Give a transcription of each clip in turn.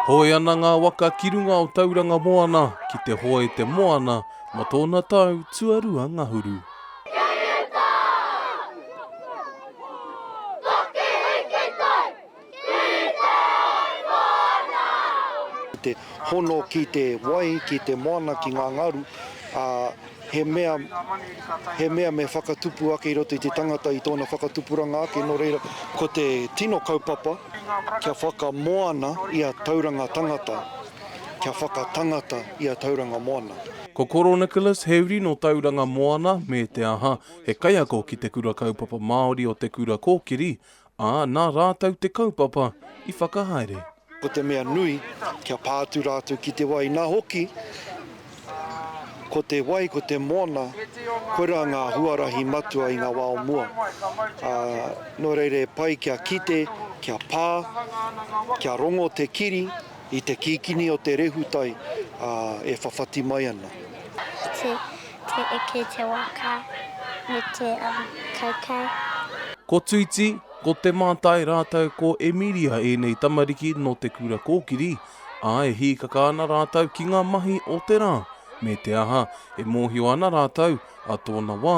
Hoe ana ngā waka ki runga o Tauranga Moana ki te hoe te moana mō tōna tau tuarua ngahuru. te hono ki te wai, ki te moana, ki ngā ngaru, ā, he mea, he mea me whakatupu ake i roto i te tangata i tōna whakatupuranga ake, nō reira, ko te tino kaupapa kia whakamoana ia tauranga tangata, kia whakatangata ia tauranga moana. Ko Koro Nicholas, he uri nō Tauranga Moana, me te aha, he kaiako ki te Kura Kaupapa Māori o Te Kura Kōkiri, Ā, nā rātou te kaupapa i whakahaere. Ko te mea nui, kia pā atu rātou ki te wai, nā hoki, ko te wai, ko te moana, koirā ngā huarahi matua i ngā wā o mua. Ā, nō reira e pai kia kite, kia pā, kia rongo te kiri, I te kikini o te rehutai e whawhati mai ana. Ki te eke te waka me te kaikai. Ko Tuti, ko Te Mātai rātou ko Emiria ēnei tamariki nō te kura kōkiri, ā, e hīkaka ana rātou ki ngā mahi o te rā, me te aha, e mōhio ana rātou, ā tōna wā,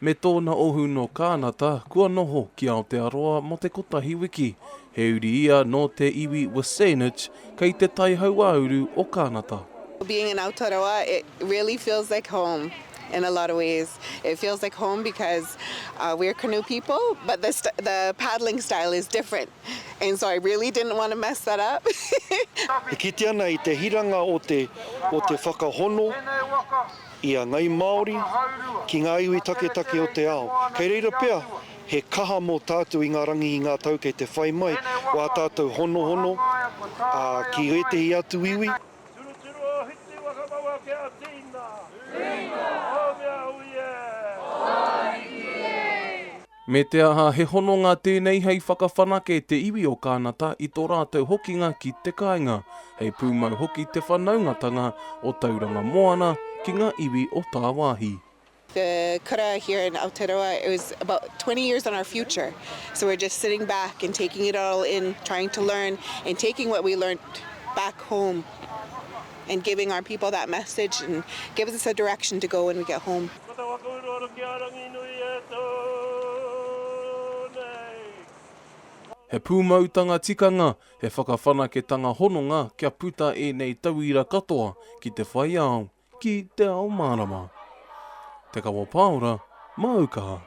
me tōna ohu nō Kānata kua noho ki Aotearoa mō te kotahi wiki. He uri ia nō te iwi WiSaanich, kei te tai hauāuru o Kānata. Being in Aotearoa it really feels like home in a lot of ways it feels like home because we're canoe people but the paddling style is different and so I really didn't want to mess that up. E kite ana i te hiranga o te whakahono. i a ngāi Māori, ki ngā iwi taketake o te ao. Kei reira pea he kaha mō tātou i ngā rangi i ngā tau kei te whai mai o ā tātou honohono ki ētehi atu iwi. Turuturu o Hiti Wakamaua ke a Tina. Tina. Ōmia ui e. Ōmiki e. Me te aha, he hononga tēnei hei whakawhanake te iwi o Kānata i tō rātou hokinga ki te kāinga, hei pūmau hoki te whanaungatanga o Tauranga Moana ki ngā iwi o tāwāhi. The kura here in Aotearoa it was about twenty years on our future so we're just sitting back and taking it all in trying to learn and taking what we learnt back home and giving our people that message and gives us a direction to go when we get home. Ko te waka uruaru ki a Ranginui e tū nei. He pūmautanga tikanga, he whakawhanaketanga hononga kia puta ēnei tauira katoa ki te whai ao, ki te ao mārama. Te Kawa Pāora, māu kaha.